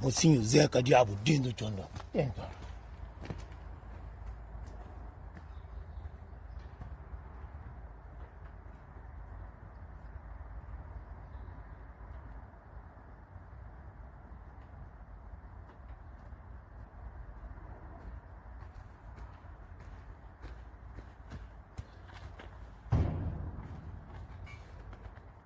Mosinhu Zé ka diabu dentu do txon dó Tenta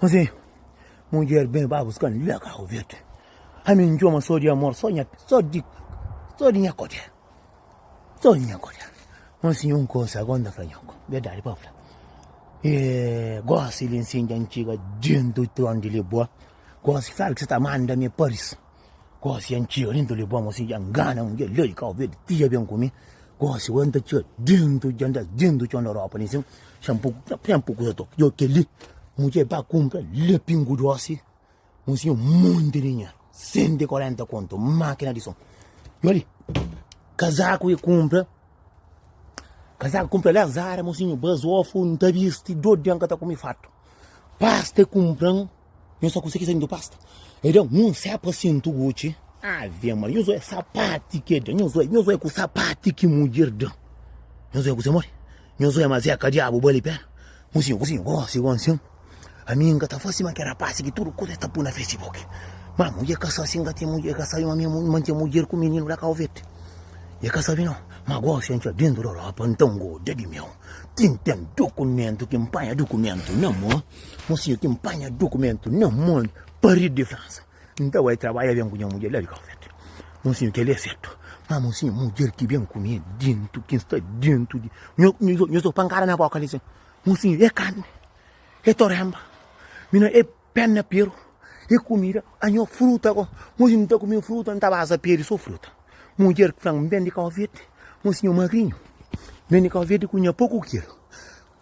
Kuze mudjer ben ba buska-m li na karu verdi? Ami N txoma so di amor, so di nha kodjer, so di nha kodjer. N siña un kuza ago N ta fla nhoku, berdadi pa fla, gosi li N siña antiga dentu di tron di Liboa, gosi fla-l ki sa ta manda-m e Paris. Gosi nha txia nem ta leba-m asin dja ngana-m dja la di Cabo Verde ti dja ben ku mi gosi ora nta txia dentu dja nda dentu txon di ropa li sin xan po xan po kuza tok djo keli mudje ba kunpra la pingu dosi un sin un monti di nha senti y korenta kontu makina di son djo li kazaku e kunpra kazaku kunpra la zara un sin ba zofu nta bisti dodja nka ta kumi fatu Pasta é kunpra-m, nhos ta konsigi sende pasta? É da un sé pa sintu Gucci? Ave Maria, nhos oi é sapati ki el da, nhos oi, nhos oi é ku sapati ki mudjer da. Nhos oi é ku se modi? Nhos oi é ma zeka diabu bali pé? Kuzinho, kuzinho, gosi gon sin? Ami N ka ta fase ma ke rapasi ki tudu kuza es ta pui na Facebook. Ma mudjer ka sa si N ka ten mudjer, e ka sabi ma mi N mantén mudjer ku mininu la Kauvet. E ka sabi no. Ma gosi antxa dentu da ropa, nta N goda di meu. Tintin, dukumentu ki N panha dukumentu na mo Mosinhu, ki N panha dukumentu na mo Paridu di Fransa N ta bai trabadja ben ku nha mudjer la di Kafet Mosinhu, kel é sertu Má mosinhu, mudjer ki ben ku mi é déntu Ki N sta déntu di Nho, nho, nho so pankada na bóka li sin Mosinhu, é karni, é toremba Mi na é. Penna peru é kumida, anho fruta ko. Moji n'ta kume fruta, n'ta baza peru i so fruta. Mudjer ki fla-m, n'bende kau verde, m'o si nho magrinho, n'bende kau verde ku nha poku kilu.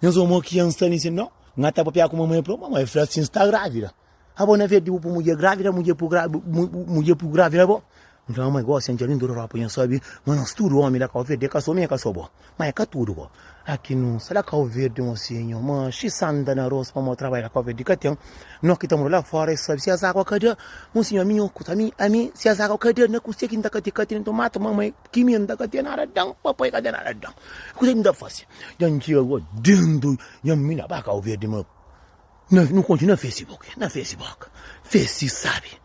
Nhas omo ki an sta n'insendi, no, n'ga ta papia ku mamai i fla-u, mamai fla si n'sta gravida. Abo na verde bu pui mudjer gravida, mudjer pui gravida bo. N fla, Mama, é gósi, N dja ben tudu rópa i N sabe ma nos tudu ómi da Kauverdi é ka so mi, é ka so bo. Má é ka tudu bo. Aki nu sta da Kauverdi, un osénhu, má xi sanda na arós pamodi trabadja da Kauverdi ka ten. Nos ki ta mora la fóra é sabe si es agu ka da un sinhorminhu ku ta ami, ami, si es agu ka da na kuzê ki N ta ka ten. Ka ten nton mata mama, é ki mi, N ta ka ten nada da-m, papai ka ten nada da-m. Kuzê ki N ta fase? Dja N txiga gó déntu, dja mi na ba Kauverdi, ma na, nu kontinua fese boka, na fese boka, fese sabe.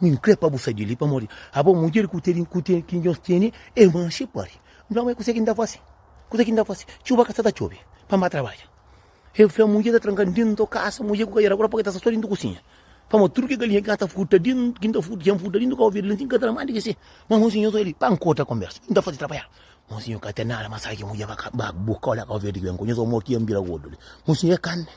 Min kre pa bu sai di li pamor di abo mudjer ku teni ku teni ki nhos teni e manxe pari. Nfla ma e kusa ki nta fasi. Kusa ki nta fasi. Txuba ka sta ta txobe. Pa ma trabadja. E fla mudjer ta tranka dinto kasa mudjer ku ka era kura pa ke ta sta so dinto kusinha. Pamor tudu ke galinha ki nta ta furta din ki nta furta ki N furta dinto ka obi el nsin ka tra ma diki si. Ma monsinho so li pa N korta konbersa. Mi nta fasi trabadja. Monsinho ka ten nada ma sai ki mudjer ba ka ba boka ola ka obi el diki ben ko nhos omor ki N bira gordu li. Monsinho e kanne.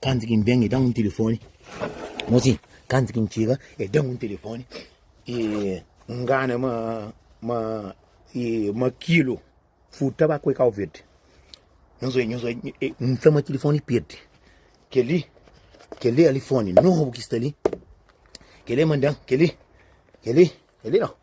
Kantu ki N ben, e da-m un tilifoni. Mosi, kantu ki N txiga, e da-m un tilifoni. E N ngana ma, ma, e, ma kilu furta ba ku e kau verdi. Nhos oi, nhos oi, e N fla ma tilifoni pirdi. Kel-li, kel-li alifoni nobu ki sta li, kel-li e mandan, kel-li, kel-li, kel-li no.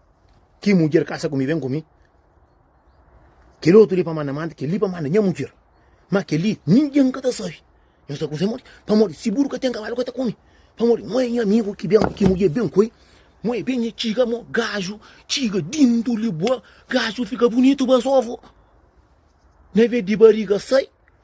Ki mudjer kasa ku mi, ben ku mi. Kel otu li pa manda manda, kel li pa manda nha mudjer. Má kel li ningen ka ta sabe. Nhos ta kuze modi? Pamodi si buru ka ten kabalu ka ta kume. Pamodi mo é nha amigu ki ben, ki mudjer ben ku el. Mo é ben el txiga, mo gaju txiga dintu li bo, gaju fika bunitu ba sóvu. Na ves di bariga sai,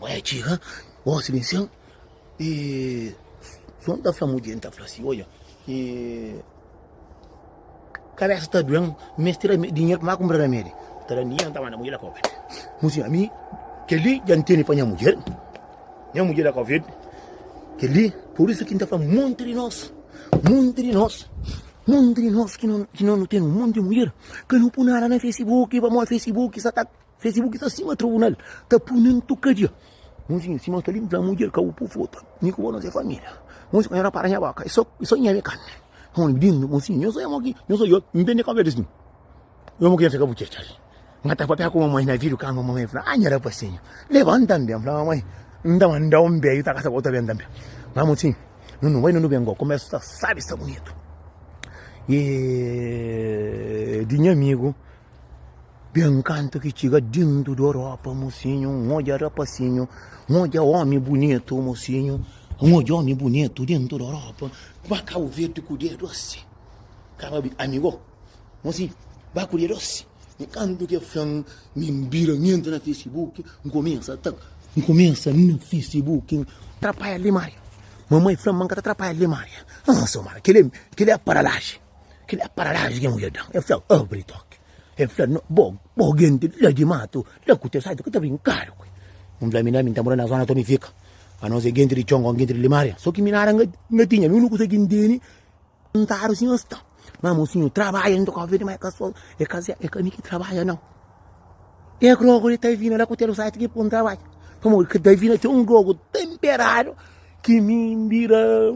Bai a txiga gosi di nsen e Jon ta fla mudjer, el ta fla asi, Odja, e kabesa ta due-m, mi meste da dinheru pa mi kunpra ramedi. El ta da-m dinheru, el ta manda mudjer la kau bete. Muzinha, ami kel-li dja N tene pa nha mudjer, nha mudjer la kau bete kel-li. Pur isu ki N ta fla monti di nos, monti di nos, monti di nos ki no ten monti di mudjer, ka no pui nada na fesibuki, pamodi fesibuki sa ta. Facebook sa sima tribunal ta puni ntu kadia Munzinha sima sta li nta mudjer ka bu pufu ta Ni ku bo nos é família Munzinha ka nha na para nha boka é so é so nha mi ka mi Mon mi dindu Munzinha nho so é mo ki nho so Yo mi bende kóbia des mi Yo mo ki nta ka bu txetxa li Nha ta papia ku mamai na vidu kanga mamai fla Nha rapasinhu lebanta nben fla mamai N ta mandau nben yu ta kasa bo ta ben tanbe Fla Munzinha nu nu bai nu nu ben go komesu sa sabi sta bunitu Di nha amigu Ben kantu ki txiga dintu d'Oropa, mosinhu, N odja rapasinhu, N odja omi bunitu, mosinhu, N odja omi bunitu dintu d'Oropa, ba Kabu Verdi ku dia dosi, kaba bi amigo, mosinhu, ba ku dia dosi, ben kantu ki el fla-m, mi N bira, N entra na Facebook, N kumesa ta, N kumesa na Facebook, N trapaia limaria, mamai fla-m ma N ka ta trapaia limaria, ãa, Somara, keli, keli é paralaji. Kel la para la gen uia dan. El fla, Abri toki. El fla, No, bo, bo genti la di matu, la ku teu saitu ka ta brinkadu ku el. N fla, Mi na mi ta mora na zona Tony fika. Pa nos e genti di Congon, genti di Limaria. So ki mi nada N ka tinha, mi uniku kusa ki N tene, kontadu si nhos ta. Ma mosinhu trabadja nta kofia di mai ka so, e ka se, e ka mi ki trabadja nau. E grogu li ta vina la ku teu saitu ki pon trabadja. Pamodi ka ta vina txeu un grogu tenperadu ki mi bira.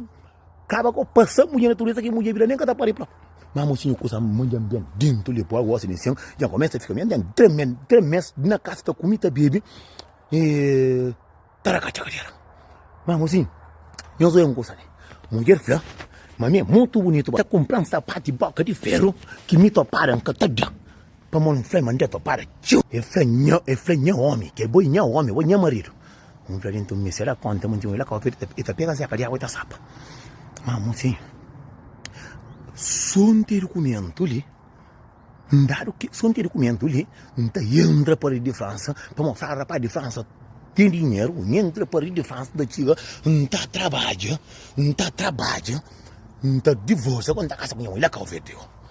Kaba ko pasa mudje natureza ki mudje bira nem ka ta pari pla. Ma mosinho kusa manja bem dentro de boa gosta de sen, já começa fica bem dentro, tremen, tremes na casa ta comi ta bebe. E taracacha cadeira. Ma mosinho, nós é um coisa, né? Mulher fla, mas é muito bonito, tá comprando sapato de boca de ferro que me toparam que tá dando. Pamó N fla-l ma N dja ta para txeu. El fla, Nha, el fla, nha ómi, kel bo é nha ómi, bo é nha maridu. N fla-l, Inton mi se da kónta ma N tinha un ilakópteru, el ta, el ta pega séka di água, el ta sapa. Má amor, sin, sô N ten dukumentu li, N dadu ke, sô N ten dukumentu li, N ta entra pa redi di Fransa, pamó fla rapaz di Fransa ten dinheru, N entra pa redi di Fransa, N ta txiga, N ta trabadja, N ta trabadja, N ta divórsia, gó N ta kasa ku nha mô ilakópteru.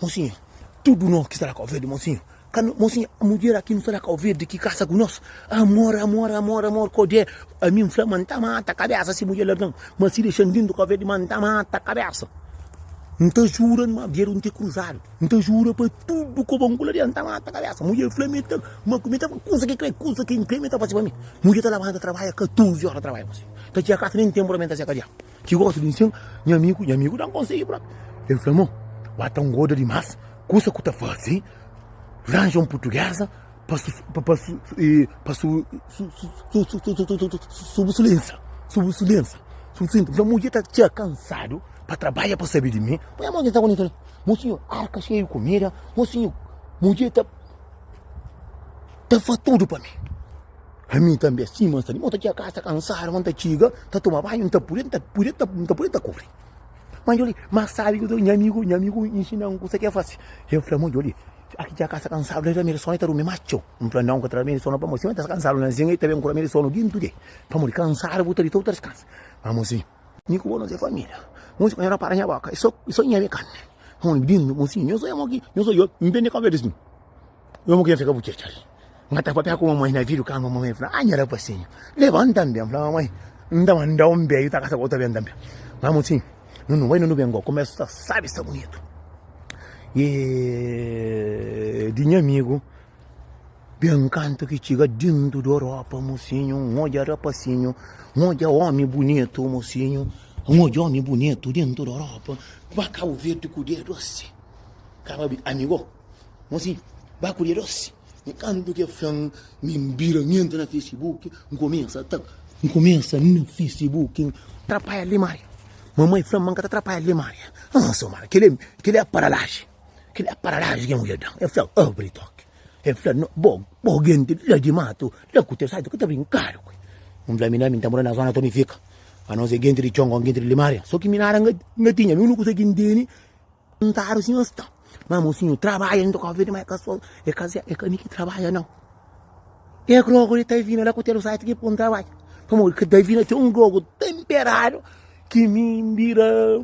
Mosinhu, tudu nos ki sta na Kauverdi, mosinhu, kal, mosinhu, mudjer aki nu sta na Kauverdi ki kasa ku nos, amor, amor, amor, amor, kodjé, ami N fla ma N ta mata kabésa si mudjer larga-m, ma si dexa-m dentu di Kauverdi ma N ta mata kabésa, N ta jura ma bia nu ta kruzadu, N ta jura pa tudu ku ba N ku la bia N ta mata kabésa, mudjer fla mi ta, ma mi ta, kusa ki krê, kusa ki N krê mi ta fase pa mi, mudjer ta labanta ta trabadja 14 óra ta trabadja, mosinhu, ta txiga kasa nen tenpu ta benta seka dja. Ki gosta di nsin nha amigu, nha amigu da-m konsegi própi. El fla ma, Wá ta ngoda dimás, kusa ku ta fase ranja un purtuguesa pa subusulensa. N fla, Mudjer ta txia kansadu pa trabadja pa sabe di mi. Poi nha mó na txangu, Mo sinhor, arka xeiu kumida. Mo sinhor, mudjer ta fá tudu pa mi. Ami tanbe asin ma sta li. Mo ta txiga kasa kansadu, ma N ta txiga, N ta toma banhu, N ta puri, N ta puri, N ta puri, N ta kuri. Ma djoli, ma sabi ki nha amigu, nha amigu inxina-m kusa ki é fase. El fla-m, Ó djoli, a ki dja kasa kansadu la, el tra mi di sonu, el ta durmi más txeu. N fla, Nau, N ka tra mi di sonu, pamodi si N ta kansadu na zinha, el ta ben kura mi di sonu dintu di el. Pamodi kansadu bu ta dita, bu ta diskansa. Ma mon sinhu, mi ku bo nos é família. Mon sinhu, ka nha rapara nha boka, é sô, é sô nha mi kanbi. Mon sinhu, nhos oi amo ki, nhos oi oi, N ben di kónpra di snu. Nhô mo kenta ka bu txatxa li. N ka ta papia ku mamai na vidru kama. Mamai fla, Ah nha rapasinhu, lebanta-m ben. N fla, Mamai, N ta manda-u N ben, i ta kasa ku otu ben tanbe. Mama fla sin, Nu nu bai, nu nu ben gosi. Kumesa sta sabi, sta bunitu. E di nha amigu ben kantu ki txiga dentu di Europa, mosinhu, N odja rapasinhu, N odja omi bunitu, mosinhu, N odja omi bunitu dentu di Europa. Ba Kabuverdi ku dedu asi. Kaba bi, Amigo. Mo si, ba ku dia dosi. Nkantu ke fla-m mi N bira, N entra na Facebook, N kumesa ta, N kumesa na Facebook N trapaia li Maria. Mamai fla-m ma N ka ta trapaia li Maria. Aa so Maria, keli, keli é paralaji, keli é paralaji ke mudjer da-m. El fla, Abri tok. El fla, No, bo, bo genti la di matu, la ku teu saitu ka ta brinkadu ku el. N fla, Mi na, mi N ta mora na zona to mi fika. Anos é genti di txon kon genti di li Maria. So ki mi nada N ka, N ka tinha, mi unuku kusa ki N tene. Perguntadu si nhos ta. Má mosinhu trabadja inda covid má eka so eka zé eka mi ki trabadja nau e grogu li ta vina la ku telo site ki pun trabadja pamodi ki ta vina txeu un grogu temperadu ki mi n bira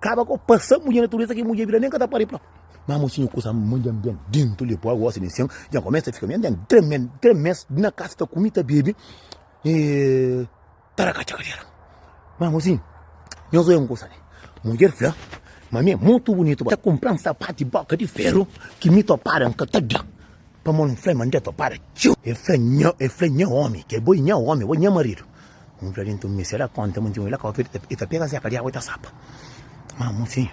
kaba ku pasa mudje natureza ki mudje bira nen ka ta pari própi má mosinhu kusa mudja ben dentu li poi gosi li sen dja kumesa fika mi n ten três me três mes na kasa ta kumi ta bebe Ta da katxa kadera. Mas mozinho, nho zoia um coisa ali. Mulher fla, mas me é muito bonito. Tá comprando sapato e boca de ferro que me toparam que tá dá. Pra mano fla, mandei topar. Tchum. Eu falei, nho, eu falei, nho homem, que é boi, nho homem, boi, nho marido. Um falei, então, me será conta, muito lá, qual feito, e tá pega a seca de água e tá sapa. Mas mozinho,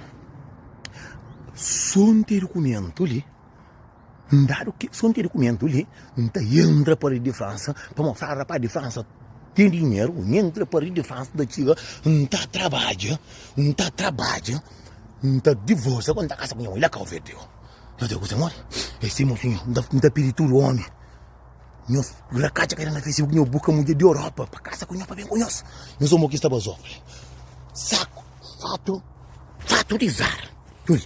só um documento ali. N dadu kes fonti di kumentu li, N ta entra pa ri di Fransa pa mostra rapaz di Fransa ten dinheru. N entra pa ri di Fransa, ta txiga, N ta trabadja, N ta trabadja, N ta divorsia ku N ta kasa ku nha modi. La ka ofendeu. Nhos ta gosta modi? É si, mon sinhor. N ta pidi tudu omi. Nhos rakatxa ka era na Facebook, nhos buska mudjer di Europa pa kasa ku nhos, pa ben ku nhos. Nhos omi ki sta bazófre. Saku, fatu, fatu di zar. Txu li.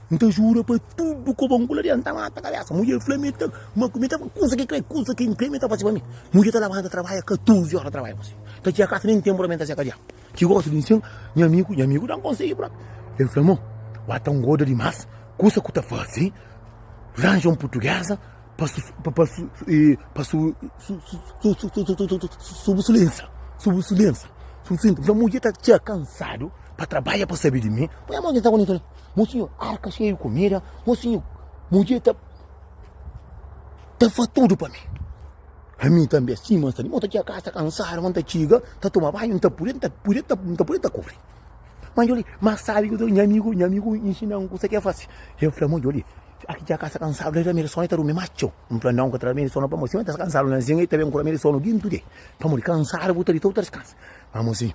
N ta jura pa tudu ku bon kula li, N ta mata kabésa. Mudjer fla mi, Ma mi ta fla kusa ki krê, kusa ki N krê, mi ta fase pa mi. Mudjer ta labanta ta trabadja 14 óra, ta trabadja gosi. Ta txiga kasa, nen ténpu ta ben ta seka dja. Ki gosi di N sen, nha amigu, nha amigu da-m konsegi própi. El fla ma, Ba ta ngoda dimás, kusa ku ta fase, ranja un purtuguesa pa subu su lensa, subu su lensa. N fla, Mudjer ta txiga kansadu pa trabadja pa sabe di mi. Poi nha mó ki N sta ku li. Mosinhu, arka xeiu kumida. Mosinhu, mudjer ta, ta fa tudo pa mi. Ami também assim, mas também. Mota tinha casa cansada, manta chiga, tá toma banho, tá por tá por tá tá por tá cobre. Mas olha, mas sabe que minha amigo, minha amigo ensina um coisa que é fácil. Eu falei, mãe, olha, aqui tinha casa cansada, ele também só tá dormindo macho. Um falei, não, que também só não para você, tá cansado, não assim, ele também com ele só no guinto de. Para morrer cansado, botar de todo descansa. Vamos assim.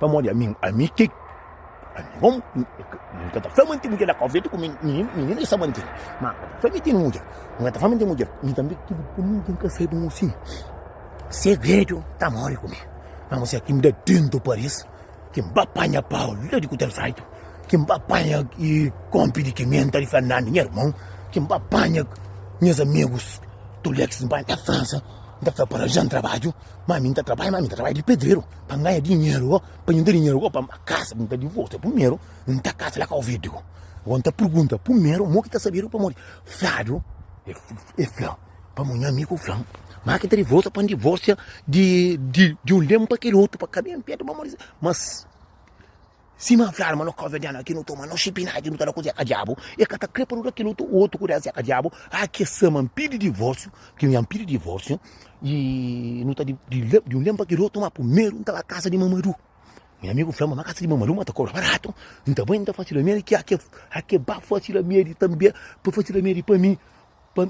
Pamodi ami, ami ki, ami kom, n ka ta fla ma N ten mudjer la, kónfia di ku mininu, mininu ki sa ma N ten, ma N ka ta fla ma N ten mudjer, N ka ta fla ma N ten mudjer, mi tanbe ki bu pô-m nin ten ka saiba un sin segredu ta móre ku mi, ma mô siá ki N da dentu Paris, ki N ba panha pau la di kutel fraitu, ki N ba panha kónpi di kimenta di Fernando nha irmon, ki N ba panha nhas amigus tulex, N ba na Fransa, N ta fla pa el aranja-m trabadju. Má mi N ta trabadja, má mi N ta trabadja di pedreru pa N ganha dinheru go, pa djunta dinheru go pa N ba kaza. Mi ta divorsia primeru, N ta kaza la ka ovedu go. Go N ta pergunta primeru mo ki ta sabedu pamodi fiadu e fla pa mon amigu fla ma ki ta divorsia pa N divorsia di un lemu pa kel otu pa ka ben petu. Má, Sima N fladu ma no ka obedianu a ki nu toma, no xipinadju, nu ta da ku Zeka Diabu. E ka ta kre pa nu da kel otu ku da Zeka Diabu. A ke sa ma N pidi divorsiu, ki nha N pidi divorsiu, i nu ta di un leu pa kel otu. Ma primeru N ta ba kasa di Mamadu. Nha amigu fla ma, ma kasa di Mamadu ma ta kobra baratu. N ta bai, N ta fasi lamedi ki a ke ba fasi lamedi tanbe, pa fasi lamedi pa mi, pa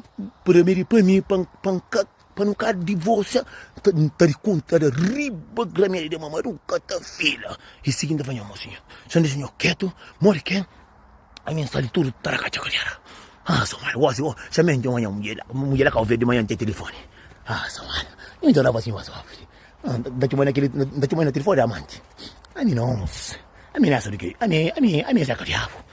lamedi pa mi, pa N ka. Pa nu ka divorsia, N ta di kontada riba gramia de mamadu, N ka ta fila. E sigi N ta fla, Mo sinhor, N di sinhor ketu, mo di ken? Ami N sa di tudu, tarakatchakariara. Ah, sa mala, gosi bo, sa menti ma nha mudjer la, mudjer la ka ouvia di manha nte telefoni. Ah, sa mala, ami N ta daba sinhor sofri. Ah, N ta txoma-l na kili, N ta txoma-l na telefoni di amanti. Ami nos, ami nasa di ke? Ami, ami, ami é sa ka diabu.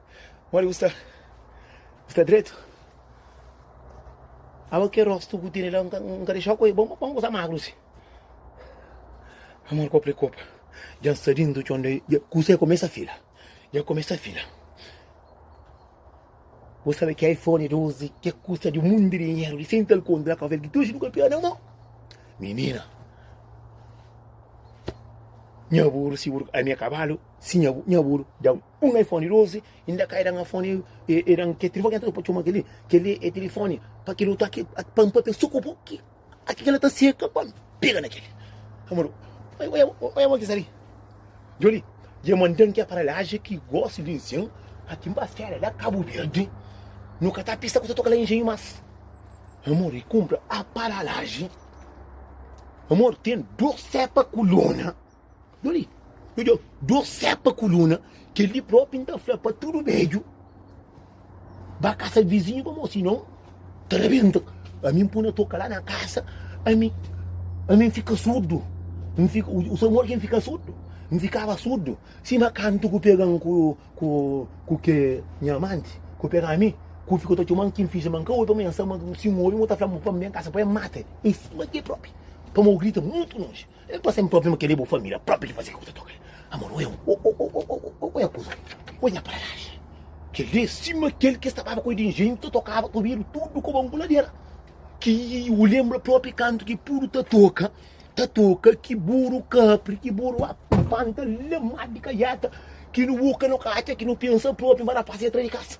Modi bu sta? Bu sta dretu? Abo ke rostu ku tene la, N ka dexa-u koi, bon, bon, bu sta magru si. Amor kopa e kopa, dja N sta dintu txon de, dja kusa dja kumesa fila, dja kumesa fila. Bu sabe ki iPhone 12 ke kusta di un mundi di dinheru, di sem tal konta, ka vel ki tuxi nu ka pia na mo. Minina, nha buru si buru, ami e kabalu si nha buru, nha buru, dja. Un iPhone 12 i N da kai da-m iPhone e da-m kel tilifoni ki N ta uza pa txoma kel-li. Kel-li é tilifoni pa kel otu. Ki pa N papia sô ku bo ki kel-la ta seka pa N pega na kel-li. Amor, oja bo ki sta li. Joli, dja manda-m ki aparelhajen ki gosi di nsin aki N ba séria la Kabu Verdi. Nu ka ta pista ku ta toka la Engenhu más. Amor, i kunpra aparelhajen. Amor, ten dôs sépa ku lona. Doli, odja, dor sepa kuluna, kel-li propi N ta fla pa tudu bedju, ba kasa vizinhu pa mo, sinon ta rabenta. Ami N puna toka la na kasa, ami, ami N fika surdu, N fika, o Samuel ki N fika surdu, N fikaba surdu, sima kantu ku pegan ku, ku, ku ke nha amanti, ku pega ami, ku fika ta txoman ki N finji ma N ka obi, pamodi N sa ma si N obi mo ta fla ma pa N ben kasa pa el mata-l, e sima ke propi, pamodi o grita mutu lonji. El ta sen problema kel li é bu família própri ki faze kel ku ta toka li amor o eu o o o o o o é kuza o é nha paralaje kel li é sima kel ki es ta baba ku el di engenhu ta tokaba ta obidu tudu ku banguladera ki u lenbra própri kantu ki puru ta toka ta toka ki buru kapri ki buru a panta lamadu di kaiata ki nu boka nu ka atxa ki nu pensa própri nba rapaz entra di kasa.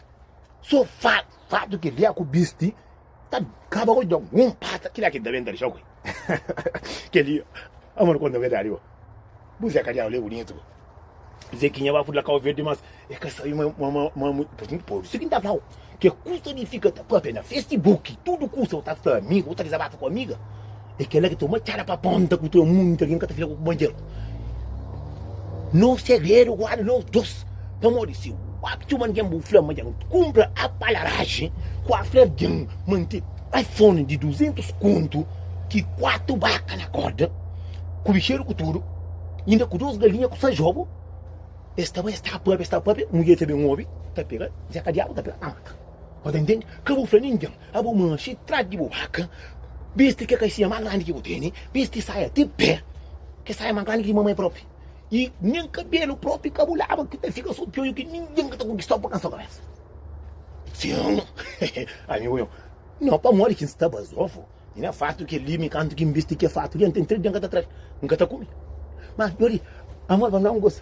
So fa, fatu ki lia ku bisti ta kaba ku djon. Um pata ki lia ki da bem ta dixau kui. Que li, amor quando é verdade, ó. Buzé ka lia olé bonito. Zequinha ba fudla kau verde mas é ka sabe ma ma ma ma mu pois muito pois. Zequinha ta flau. Que custa de fica ta papia na Facebook. Tudo custa o ta fla amigo, o ta desabata com amiga. É kel la ki ta uma txada pa ponta ku tira munti algen ka ta fika ku kunpanheru. Nos segredu guarda nos dos, pamodi si wap txoma algen bu fla ma dja nu kunpra apalaragi ku a fla algen ma n ten iphone di 200 kontu ki kuatu baka na korda ku bixedu ku tudu inda ku dos galinha ku sa jobu es ta bai es ta papia es ta papia mudjer ta ben obi ta pega dja ka diabu ta pega ta mata bo ta ntende ka bu fla ningen Abo manxi tras di bo baka, bisti ke kaisia mas grandi ki bu teni, bisti saia ti pe, ke saia mas grandi ki di mamai propi, i nin kabelu propi ka bu laba, ki ta fika so pioju ki ningin ka ta konkistau pa kansa kabesa. Sin, amigu meu, no pamodi ki N sta bazofu, i na fartu ke limi kantu ki N bisti ke fartu, dja N ten tres dia N ka ta trai, N ka ta kumi. Mas djori, amor, ba N da un gosi.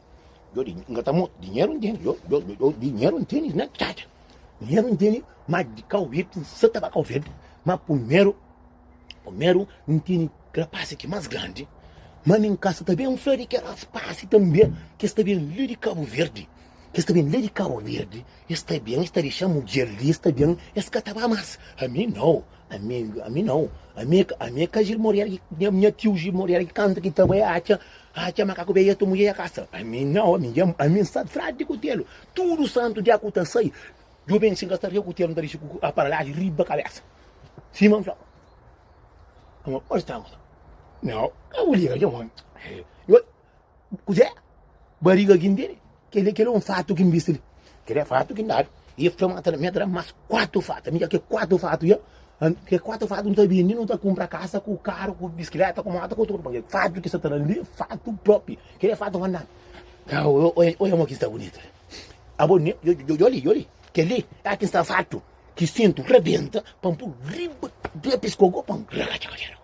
Yo di, nga ta mot, dinheru nteni, yo, yo, yo, yo, dinheru nteni na tchatcha. Dinheru nteni, ma di kau vete, nsa ta ba kau vete, ma pumeru, pumeru, nteni krapasi ki mas grandi, ma mi nkasa ta ben fla di ke raspasi tanbe, kes ta ben le di Kabu Verdi, kes ta ben le di Kabu Verdi, Es sta ben, es ta dexa mudjer li, es ta ben, es ka ta ba mas. Ami nau, ami, ami nau. Ami, ami e ka Jil Morera ki, nha, nha tiu Jil Morera ki kanta ki ta bai atxa, atxa makaku be etu mudjer ya kasa. Ami nau, ami, nha, ami N sa fradi di kutelu. Tudu santu dia ku ta sai, djo ben si ka sta riba kutelu, N ta dexa ku aparalhadju riba kabesa. Sima N fla. Amo, onde sta? Nau, ka bu liga dja, mon. Kuzé? Bariga ki nbiri? Kel-li, kel-li é un fatu ki nbisti li. Kel-li é fatu ki ndadu. I es fla-m, Ata la, mi ata da-m más kuatu fatu. Ami dja kel kuatu fatu dja. Kel kuatu fatu, nu ta bindi, nu ta kunpra kasa ku karu, ku biskiléta, ku móta, ku tudu. Pabia fatu ki es ta ta da-m li é fatu propi. Kel-li é fatu pa nda-m. Kau, oja mo ki sta bunitu li. Abo, ne, djo li, djo li. Kel-li é aki sta fatu ki sintu rabenta pa-m pul riba, riba pes kogó pa-m. Rakajagadjaragu.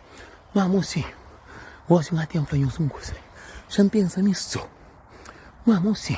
Má mose, gosi N ka ten fla nhos un kuza, N xa N pensa mi sô. Má mose,